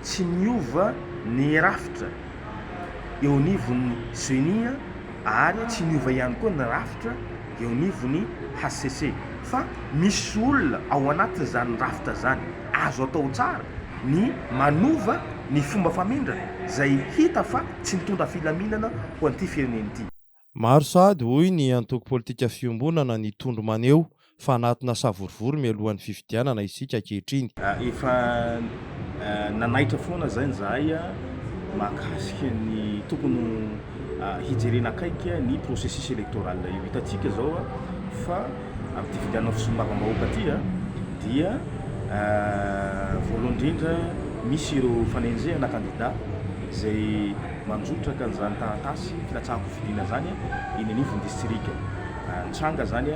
Tsy niova ny rafitra eo anivon'ny Ceni ary tsy niova ihany koa ny rafitra eo anivon'ny hcc fa misy olona ao anatin'izany rafitra izany. Azo atao tsara ny manova ny fomba famindra izay hita fa tsy mitondra filaminana ho an'ity firenena ity. Maro sahady, hoy ny antoko politika Fiombonana ny tondro maneho fa anatina savorovoro mialohan'ny fifidianana isika ankehitriny. Efa nanaitra foana izay izahay mahakasika ny tokony hijerena akaiky ny processus électoral io. Hitantsika izao fa amin'ity fifidianana ho solombavambahoaka ity dia voalohany indrindra misy ireo fanenjehana kandida izay. Mandrotraka an'izany taratasy filatsahan-kofidina izany eny anivon'ny distrika. Nitranga izany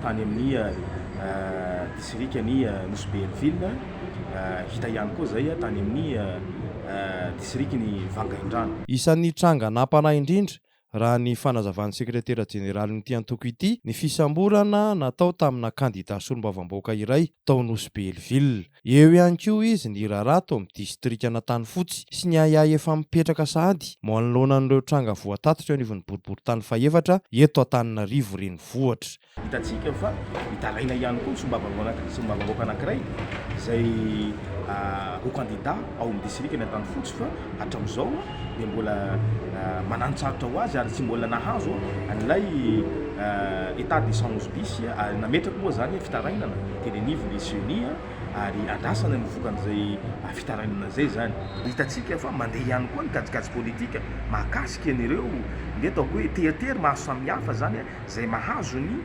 tany amin'ny distrikan'i Nosy Be Hailoville, hita ihany koa izay tany amin'ny distrikan'i Vangaindrano. Isan'ny tranga nampanahy indrindra, raha ny fanazavan'ny sekretera jeneralin'ity antoko ity, ny fisamborana natao tamina kandida solombavambahoaka iray tao Nosy Be Hailoville. Eo ihany koa izy niraharaha tao amin'ny distrikan'Antanifotsy sy ny ahiahy efa mipetraka sahady manoloana an'ireo tranga voatatitra eo anivon'ny boriborintany fahefatra eto Antananarivo Renivohitra. Hitantsika fa mitaraina ihany koa ny solombavambahoaka solombavambahoaka anankiray izay ho kandida ao amin'ny distrikan'Antanifotsy fa hatramin'izao dia mbola mananontsarotra ho azy ary tsy mbola nahazo an'ilay état de sans bis ary nametrako moa izany fitarainana teny anivon'ny ceni ary andrasana ny vokan'izay fitarainana izay izany. Hitantsika fa mandeha ihany koa ny kajikajy politika mahakasika an'ireo, ndeha ataoko hoe tery tery maro samihafa izany izay mahazo ny.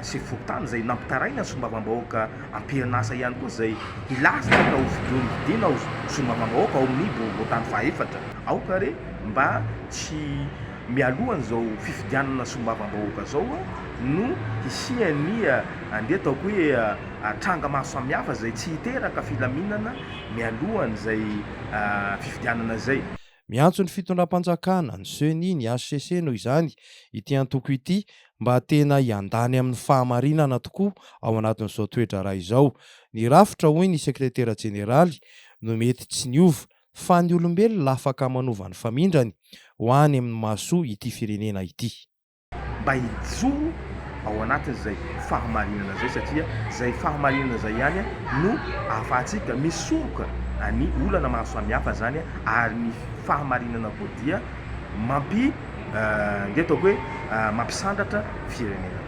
sivy folo taona izay nampitaraina ny solombavambahoaka ampianasa ihany koa izay hilaza ny atao fidiana ho solombavambahoaka ao amin'ny boriborintany fahaefatra. Aoka re mba tsy mialohan'izao fifidianana solombavambahoaka izao no hisian'ny andeha ataoko hoe tranga maro samihafa izay tsy hiteraka filaminana mialohan'izay fifidianana izay. Miantso ny fitondram-panjakana, ny Ceni, ny hcc noho izany ity antoko ity mba tena hiandany amin'ny fahamarinana tokoa ao anatin'izao toe-draharaha izao. Ny rafitra, hoy ny sekretera jeneraly, no mety tsy niova, fa ny olombelona afaka manova ny famindrany ho any amin'ny mahasoa ity firenena ity. mba hijoro ao anatin'izay fahamarinana izay satria izay fahamarinana izay ihany no ahafahantsika misoroka ny olana maro samihafa izany ary ny fahamarinana koa dia mampi nge ataoko hoe mampisandratra firenena.